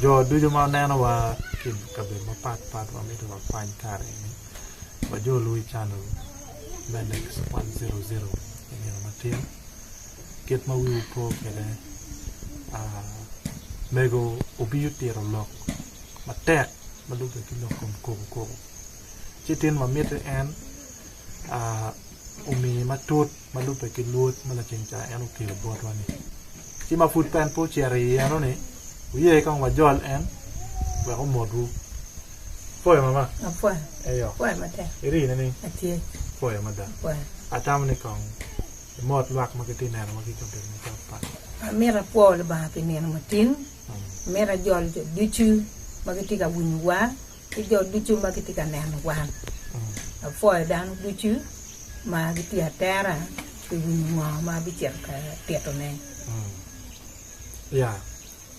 Jo ducu ma neno wa ki i kabedo mapat pat wa mito wa kwany kare eni wa jo lwongo i canel me Lex one zero zero i nino matin kit ma wiwu po kwede mego obiyo tito lok matek ma nongo obedo ki lok kom koko koko ci tin ma mitte en omi matut ma lubbe ki luot ma laceng ca en okelo botwa-ni. Ci ma pud en pe ocito i eno-ni, wuye kong wajol en wek omotwu. Ipwoyo mama? Apwoyo. Eyo. Apwoyo matek. Irine ni? Atye. Apwoyo mada. Apwoyo. Atamo ni kong imot lwak ma gitye neno ma ki i kabedo mapat pat. Amito apwo Lubanga pi nino matin. Amito ajol jo ducu ma gitye ka winyowa. ki jo ducu ma gitye ka neno wan. Apwoyo dano ducu ma gitye atera pi winyo ngo ma abicito ka tito ne. Ya,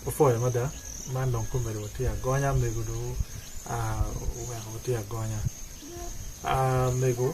apwoyo mada, man dong komedo wa tye agonya mego dong weko watye agonya mego.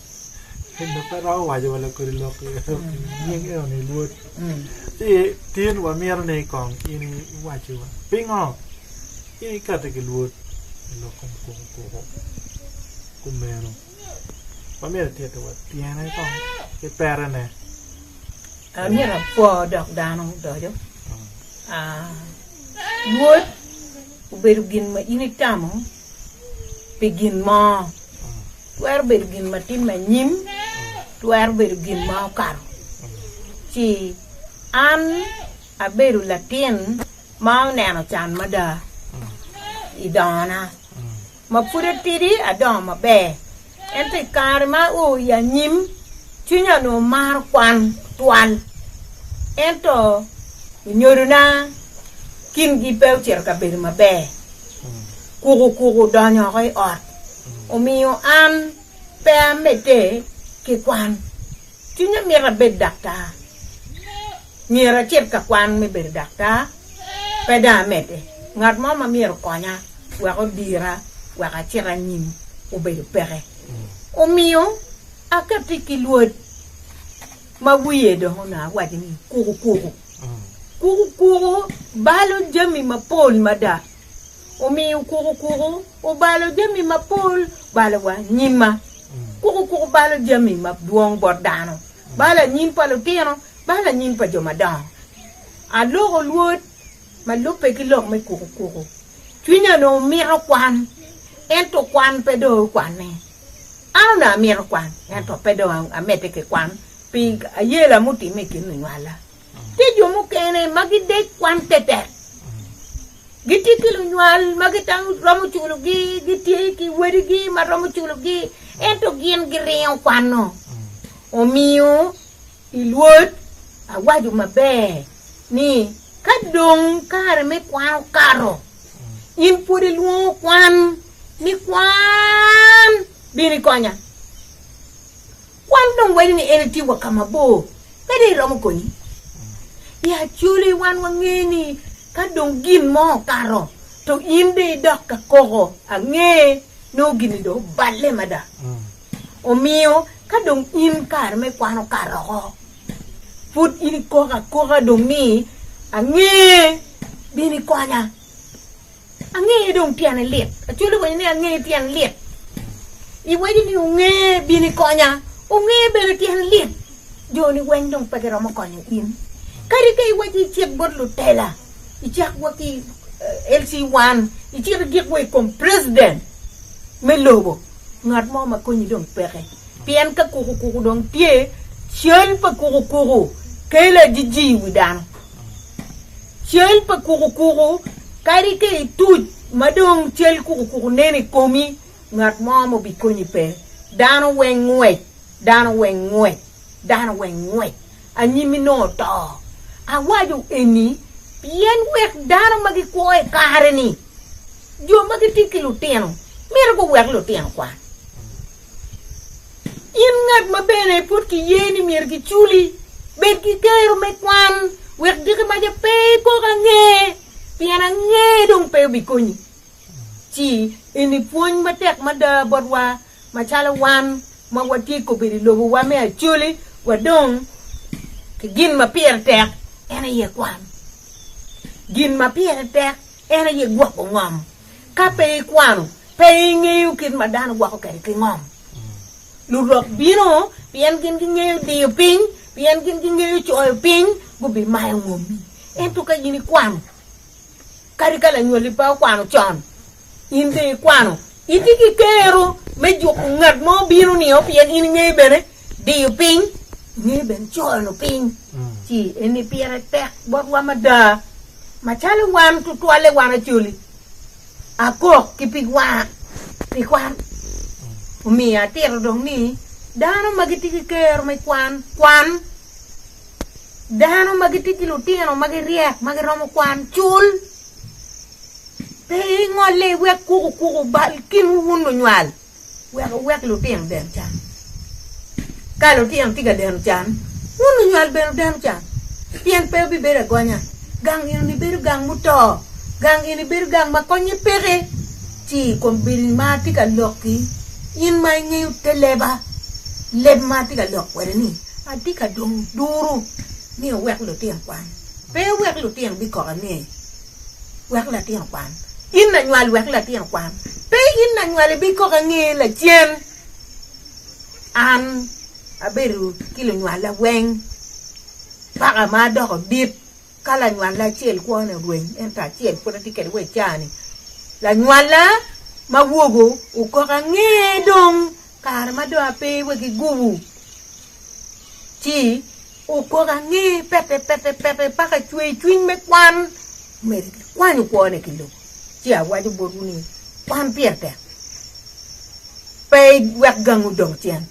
Ento pe romo waco wa lakodi lok nying eno ni Lwod. Ci tin wamito ni kong in iwaci wa pingo in ikati ki Lwod i lok kom kuku kuku kumeno wamito ititi wa tyene kong ki pere ne. Amito apwo dok dano odoco. Lwod obedo gin ma in itamo. pi gin mo, twero bedo gin ma timme anyim, twero bedo gin ma okato. Ci an abedo latin ma oneno can mada i dongona, ma pud atidi adongo maber. Ento i kare ma oo i anyim, cwinya onongo maro kwan twal, ento onyodona kingi pe ocito ka bedo maber. Kukukuku odonyo woko i ot, omiyo an pe amedde ki kwan. Cwinya mito abed daktar. Myero acit ka kwan me bedo daktar, pe dong amedde. Ngat mo ma myero okonya wek odira wek acit anyim obedo peke. Omiyo akette ki lwod ma wiye dong onongo awaco ni kukukuku. Kukukuku balo jami mapol mada. Omiyo kuku kuku obalo jami mapol balo wa nyimma. Kuku kuku balo jami madwong bot dano, balo anyim pa lutino, balo anyim pa jo madongo. Aloko lwod ma lubbe ki lok me kuku kuku. Cwinya onongo mito kwan, ento kwan pe dong okwanne. An onongo amito kwan, ento pe dong amedde ki kwan, pi ayela mutimme i kin lunywala. Tye jo mukene ma gidec kwan tetek, gitye ki lunywal ma giromo culogi, gitye ki wedigi ma romo culogi, ento gin giringo kwanno. Omiyo i Lwod awaco maber ni ka dong kare me kwan okato, in pwod ilwongo kwan ni kwan bino ikonya. Kwan dong wenyo ni en etye wa ka mabor, pe dong iromo konyi. I Acholi wan wangeyo ni ka dong gin mo okato to in dong idok ka koko ange nongo gin-ni dong oballe mada. Omiyo ka dong in kare me kwan okato oko, pud in ikok akoka dong ni, Ange bino ikonya. Angeye dong tyene lit. Acholi winyo ni angeye tyen lit. Iwaco ni onge bino ikonya. Onge bene tyen lit. Joni weng dong pe giromo konyo in. Kadi ka iwaco icit bot lutela, icak wa ki eh, LC wan, icit idik wa i kom president me lobo, ngat mo ma konyi dong peke. Pien ka kuku kuku dong tye, cal pa kuku kuku kelo ajiji i wi dano. Cal pa kukukuku, Kadi ka ituc ma dong cal kukukuku nen i komi, ngat mo ma obikonyi pe. Dano weng ngwec, dano weng ngwec, dano weng ngwec, anyimmi nongo oto. Awaco eni pien wek dano ma gikwo i kare-ni, jo ma gitye ki lutino, myero guwek lutino kwan. In ngat ma bene pud kiye ni myero kiculi, bed ki gero me kwan, wek diki maca pe ikok ange, pien ange dong pe obikonyi. Ci, eni pwony matek mada botwa macalo wan ma watye kobedo i lobowa me acoli wa dong ki gin ma pire tek en aye kwan. Gin ma pire tek en aye gwoko ngom. Ka pe ikwano, pe ingeyo kit ma dano gwoko kwede ki ngom. Lurok bino pien gin gingeyo diyo piny, pien gin gingeyo coyo piny, gubimayo ngommi. Ento ka in ikwano, kadi ka lanywali pe okwano con, in dong ikwano, itye ki kero me juko ngat mo bino nio pien in ingeyo bene Diyo piny nyo bene cono piny ci eni pire tek botwa mada. Macalo wan tutwalle wan acoli, akok ki pig wanga pi kwan. Omiyo atito dong ni dano ma gitye ki kero me kwan, kwan. Dano ma gitye ki lutino ma giryek ma giromo kwan, cul. Pe ingolle iwek kuku kuku bal kinwu wun lunywal. Wek wuwek lutino deno can. Ka lutino tye ka deno can, wun lunywal bene wudeno can, pien pe wubibedo agonya. Gang eno nibedo gang muto. Gang eno nibedo gang ma konnye peke. Ci i kom bedo-ni ma atye ka lok-ki, in ma ingeyo te leba, leb ma atye ka lok kwede-ni, atye ka dong duru ni wuwek lutino kwan. Pe wuwek lutino bikok angeyi. wek latin okwan, in lanywal wek latin okwan, pe in lanywal ibikok ange lacen, an abedo ki lunywalla weng paka ma adoko dit, ka lanywalla acel kwone orweny ento acel pwod atye kwede wa i caa-ni, lanywalla ma wogo okok ange dong kare ma dong ape wa ki gubu ci. Okok ange pete pete pete paka ecweyo cwiny me kwan, omeri kwanyo kwone ki lobo. Ci awaco botwu ni, kwan pire tek, pe wek gangwu dong cen,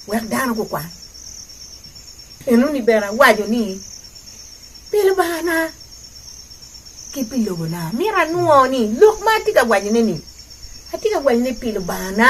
wek dano gukwan. Enoni bene awaco ni, pi Lubangana ki pi lobona, myero anwo ni lok ma atye ka wacone-ni, atye ka wacone pi Lubangana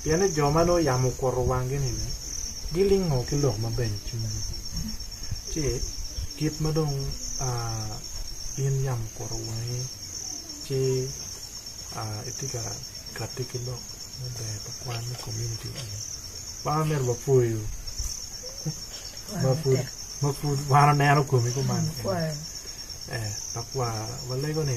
Pien ni jo ma nongo yam okuto wanggi-ni gilingo ki lok maber i cwinygi, ci kit ma dong in yam okuto wangi ci itye ka kati ki lok maber pa kwan me komuniti eni, wan wamito wapwoyu ma pud wan oneno komi kuman kene, ee, tekwaro, walego ni.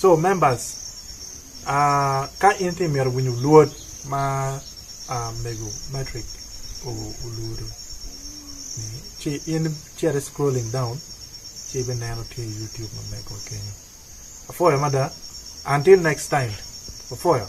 So members ka in ti mito winyo luot ma mego matric oluto ni ci in cit i scrolling down ci ibi neno tye i YouTube ma mego wa kenyo apwoyo mada until next time apwoyo.